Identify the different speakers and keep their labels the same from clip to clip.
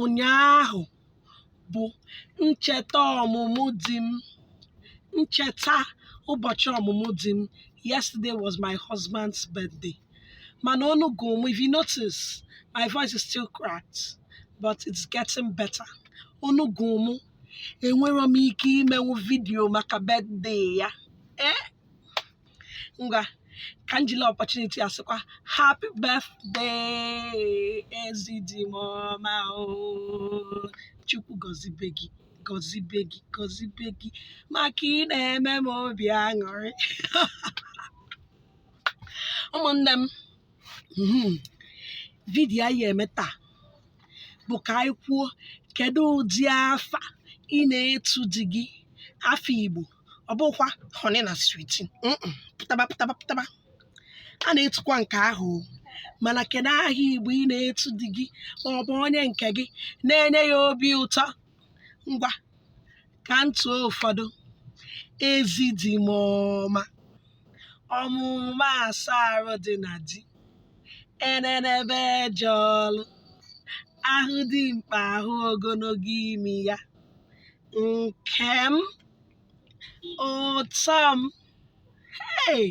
Speaker 1: ụnyaahụ bụ ncheta ọmụmụ di m ncheta ụbọchị ọmụmụ di m yesterday was my husband's birthday mana onu gụrụ m if you notice my voice is still cracked but it's getting better onu gụrụ m enwerọ m ike imenwu vidiyo maka birthday ya ee ngwa ka m jiri opportunity a sịkwa happy birthday ezi di m ọma o chukwu gọzibe gị gọzibe gị gọzibe gị maka ị na-eme m obi aṅụrị ụmụnne m mhm, vidiyo anyị eme taa bụ ka anyị kwuo kedu ụdị afa ị na-etu di gị afa igbo ọ bụkwa honey na sweetie mm-mm, pụtaba pụtaba pụtaba a na-etukwa nke ahụ o. mana kedu aha igbo ị na-etu di gị ma ọ bụ onye nke gị na-enye ya obi ụtọ ngwa ka m tụọ ụfọdụ ezi di m ọma ọmaụma asa arụ dị na di enenebe eje ọlụ a hụ dimkpa a hụ ogologo imi ya nkem ụtọ m hey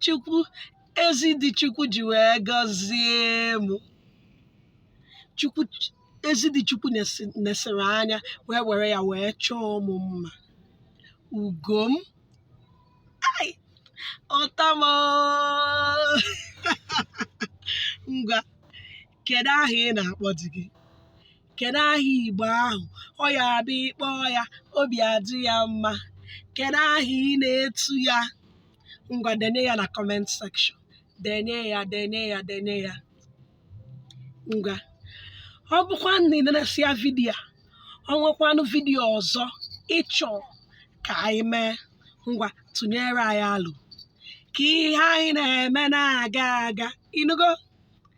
Speaker 1: chukwu ezi di chukwu ji wee gọzie m chukwu ezi di chukwu nesi- nesịrị anya wee were ya wee chọọ m mma ugo m ai ụtọ m oo. ngwa kedu aha ị na-akpọ di gị kedu aha igbo ahụ ọ ya-abụ ị kpọọ ya obi adị ya mma kedu aha ị na-etu ya ngwa denye ya na comment section denye ya denye ya denye ya ngwa ọ bụkwa na i nenesịa vidiyo a o nwekwanụ vidiyo ọzọ ị chọ ka anyị mee ngwa tụnyere anyị alo ka ihe anyị na-eme na-aga aga ị nụgo